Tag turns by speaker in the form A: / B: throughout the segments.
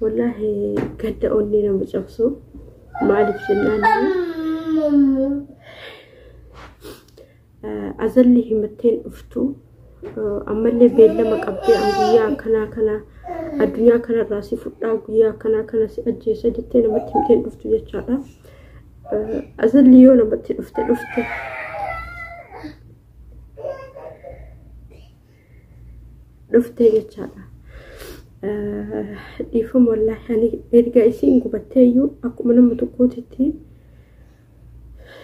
A: Wallaahi gadda onnee nama cabsu maaliif jennaan azalli himatteen dhuftu ammallee beellama qabdee an guyyaa akkanaa kana addunyaa kanarraa si fudhaa guyyaa akkanaa kana si ajjeesa jettee namatti himteen dhuftu jechaadha. Azalli yoo namatti dhufte dhufte dhuftee jechaadha. Dhiifama wallaahi ani erga isiin gubattee iyyuu akkuma nama tokkootitti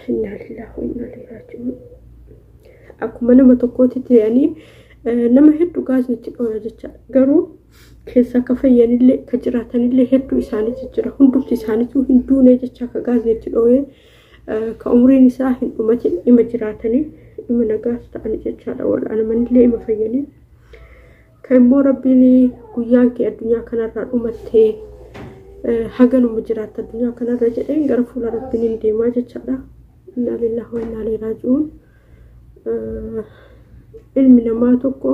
A: innaa lillaah wa innaa ilaihi raaji'uun akkuma nama tokkootitti ani nama hedduu gaasni itti dhooya jecha garuu keessaa ka fayyanillee ka jiraatanillee hedduu isaaniitu jira hundumti isaaniitu hin duune jecha ka gaasni itti dhooyee ka umriin isaa hin dhumatin ima jiraatanii ima nagaas ta'ani jechaadha wal'aanamanillee ima fayyanii ka immoo rabbiin guyyaan kee addunyaa kanarraa dhumattee haganuma jiraatta addunyaa kanarra jedheen gara fuula rabbiin hin deemaa jechaadha innaa lillahi wa innaa ilaihi raaji'uun ilmi namaa tokko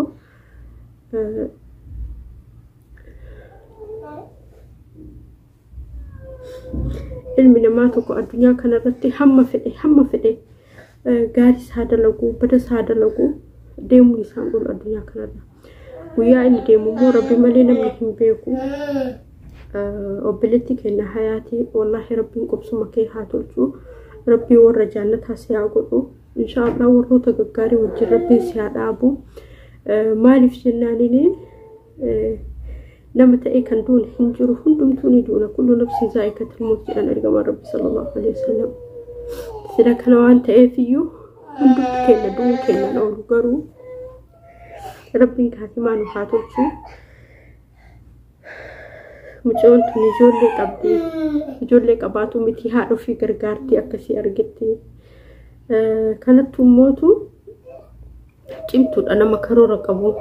A: ilmi namaa tokko addunyaa kanarratti hamma fedhe hamma fedhe gaarii isaa dalaguu bada isaa dalaguu deemuun isaan ol addunyaa kanarra guyyaa inni deemu immoo rabbi malee namni hin beeku obboleetti kenna hayaatii wallaahi rabbiin qubsuma kee haa tolchu rabbii warra jaannataa si haa godhu inshaallah warroota gaggaarii wajjin rabbiin si haa dhaabu maaliif jennaanini nama ta'ee kan duune hin jiru hundumtuu ni duuna kullu nafsin zaa'ikatul mawt jedhan ergamaan rabbi sallallahu alaihi wasallam sila kana waan ta'eef iyyuu hundumti keenya du'uu keenyaan oolu garuu rabbiin kaatimaa nu haa tolchu mucoon tun ijoollee qabdi ijoollee qabaatu miti haadha ofii gargaartii akkasii argitti kanattu mootu cimtuudha nama karoora qabu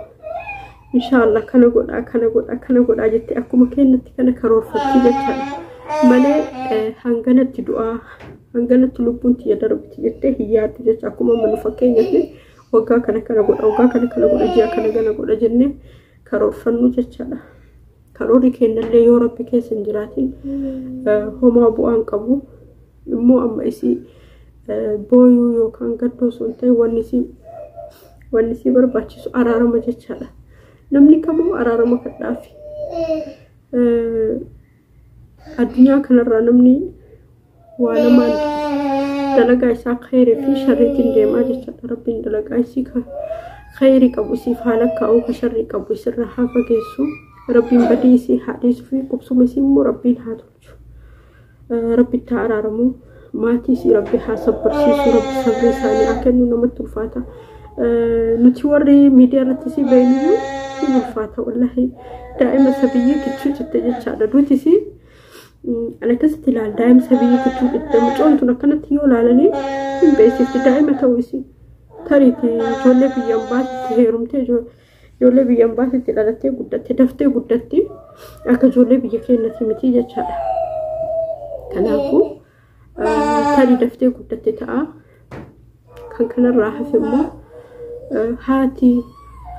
A: inshaallah kana godhaa kana godhaa kana godhaa jettee akkuma kennatti kana karoorfatti jechaadha malee eh, hanganatti du'aa hanganatti lubbuun tiyya darbiti jettee hin yaaddu jecha akkuma amma nu fakkeenyatti waggaa kana kana godha waggaa kana kana godha ji'a kana kana godha jennee karoorfannu jechaadha. Karoorri kennallee yoo rabbi keessa hin jiraatin homaa bu'aan qabu immoo amma isii booyuu yookaan gaddoo sun ta'e wanni isii wanni isii barbaachisu araarama jechaadha. Namni kamuu araarama kadhaafi. Addunyaa kanarraa namni waa lamaan dalagaa isaa khayri fi sharriitiin deemaa jechaadha rabbiin dalagaa isii ka khayri qabu isiif haa lakkaa'u ka sharrii qabu isirra haa fageessu rabbiin badii isii haa dhiisu fi qubsuma isii immoo rabbiin haa tolchu rabbitti haa araaramu maatii isii rabbi haa sabbarsiisu rabbi sabrii isaanii haa kennu namatti ulfaata nuti warri miidiyaa irratti isii beeknu ulfaata wallahi daa'ima sabiyyii kichuu jette jechaadha duuti isii An akkasitti ilaala daa'imsa biyya kichuu dhibda mucoon tun akkanatti yoo ilaalanii hin beeksifti daa'ima ta'uu isii tariiti ijoollee biyya ambaatti heerumtee ijoollee biyya ambaatti dhalattee guddatte daftee guddatti akka ijoollee biyya keenyatti miti jechaadha. Kanaafuu. tarii daftee guddatte ta'a. Kan kanarraa hafe immoo haati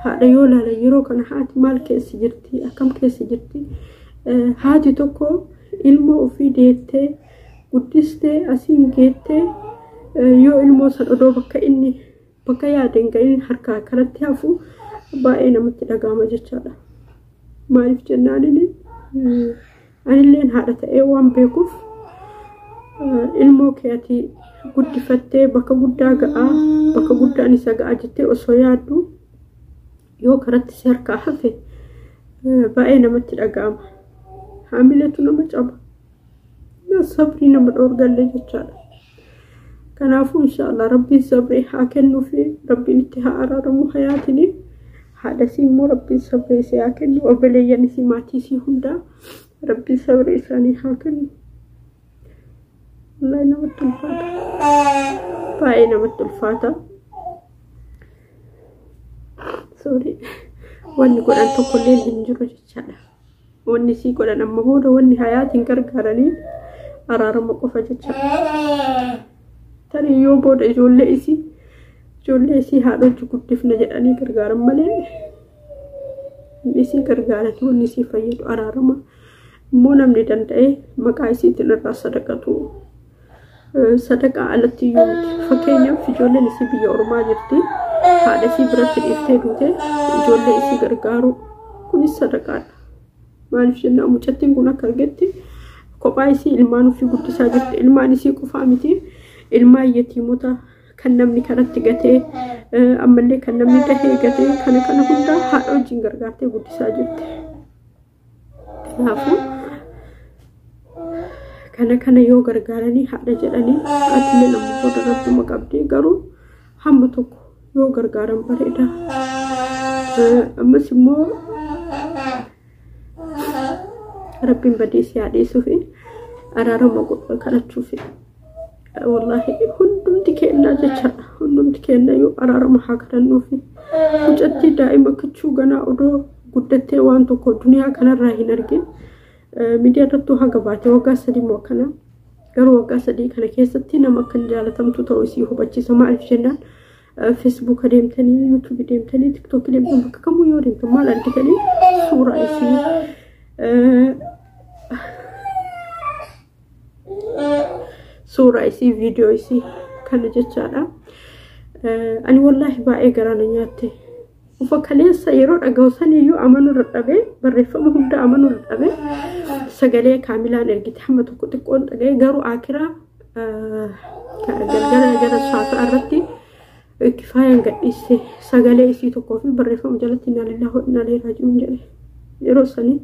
A: haadha yoo ilaalan yeroo kana haati maal keessa jirti akkam keessa jirti haati tokko ilmoo ofii deettee guddistee asiin geettee yoo ilmoo san odoo bakka inni Bakka yaadeen ga'een harkaa kanatti hafu baay'ee namatti dhaga'ama jechaadha. Maaliif jennaan inni anilleen haadha ta'ee waan beekuuf ilmoo keetii guddifattee bakka guddaa ga'aa bakka guddaan isa ga'aa jettee osoo yaaddu yoo karatti si harkaa hafe baay'ee namatti dhaga'ama. Haamiletu nama caba. Sabrii nama dhoorgalle jechaadha. Kanaafuu inshaallah rabbiin sabrii haa kennuu fi rabbiin itti haa araaramu hayaatini. Haadha isii immoo rabbiin sabrii isii haa kennu. Obboleeyyan isii maatii isii hundaa rabbiin sabrii isaanii haa kennu. Wallahi namatti ulfaata. Baay'ee namatti ulfaata. Sorry. Wanni godhan tokkollee hin jiru jechaadha. Wanni sii godhan amma booda wanni hayaatiin gargaaranii araarama qofa jecha. Tarii yoo booda ijoollee isii ijoollee isii haadhochi guddifna jedhanii gargaaran malee isii gargaarati wanni isii fayyadu araarama. Immoo namni danda'ee maqaa isiitiin irraa sadaqatu sadaqaa alatti iyyuu miti. Fakkeenyaaf ijoolleen isii biyya ormaa jirti. Haadha isii biratti dhiiftee duute ijoollee isii gargaaruu kunis sadaqaadha. Maaliif jennaan mucattiin kun akka argetti kophaa isii ilmaan ofii guddisaa jirti. Ilmaan isii qofaa miti ilmaan yatiimota kan namni karatti gatee ammallee kan namni dahee gatee kana kana hundaa haadha wajjin gargaartee guddisaa jirti. Kanaafuu kana kana yoo gargaaranii haadha jedhanii atilee nama booda rabbuma qabdi garuu hamma tokko yoo gargaaran bareeda. Ammas immoo rabbiin badii si haa dhiisuufi araarama kadhachuufi. Wallaahi hundumti kennaa jechaadha. Hundumti kenna yoo araarama haa kadhannuufi. Mucattii daa'ima kichuu ganaa odoo guddattee waan tokko duniyaa kanarraa hin argin. Miidiyaa irrattuu haga baate waggaa sadii moo akkana. Garuu waggaa sadii kana keessatti nama akka hin jaalatamtu ta'uu isii hubachiisa. Maaliif jennaan Facebook deemtanii, YouTube deemtanii, TikTok deemtanii bakka kamuu yoo deemtan maal argitanii suuraa isii suuraa isii viidiyoo isii kana jechaadha. Ani wallaahi baay'ee garaa na nyaatte. Ufa kaleessa yeroo dhagahu saniyyuu amanuu dadhabee barreeffama hunda amanuu dadhabee sagalee kaamilaan ergite hamma tokko xiqqoon dhaga'e garuu akiraa galgala gara saafa irratti kifaayaan gadhiisse sagalee isii tokkoo fi barreeffama jalatti inna lillahi wa inna ilaihi raaji'uun jedhe yeroo sanii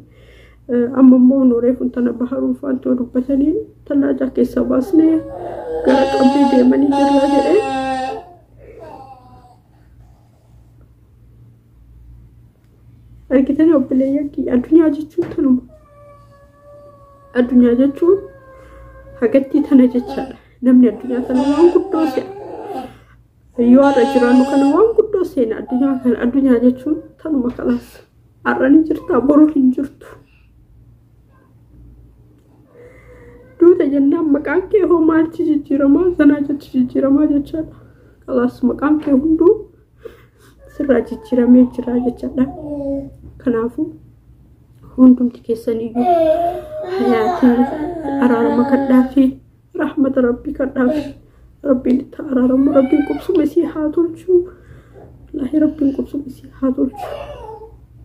A: Amma immoo nooree kun tana baharuu faantoo dubbatanii tallaajaa keessa baasnee gara qabbii deemanii jirra jedhee. Argitanii obboleeyyan kiyya addunyaa jechuun tanuma. Addunyaa jechuun hagattii tana jechaadha. Namni addunyaa tana waan guddoo se'a. Yoo har'a jiraannu kana waan guddoo seena addunyaa kana addunyaa jechuun tanuma kalaas har'a ni jirtaa boruu hin jirtu. Duuta jennaan maqaan kee hoo maalchi jijjiiramaa sanaa jechi jijjiiramaa jechaadha. Kalaas maqaan kee hunduu sirraa jijjiiramee jira jechaadha. Kanaafuu hundumti keessaniyyuu hayaatii araarama kadhaa fi Rahmata Rabbii kadhaaf. Rabbiin itti araaramu. Rabbiin qubsuma isii haa tolchu. Wallaahi Rabbiin qubsuma isii haa tolchu.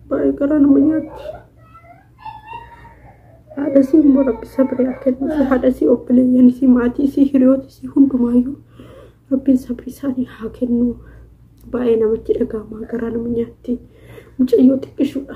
A: Baay'ee garaa nama nyaatti. Haadha isii immoo Rabbi sabrii haa kennu. Haadha isii obboleeyyan isii maatii isii hiriyoota isii hundumaayyuu Rabbiin sabrii isaanii haa kennu. Baay'ee namatti dhaga'ama garaa nama nyaatti. Mucayyoo xiqqishuudha.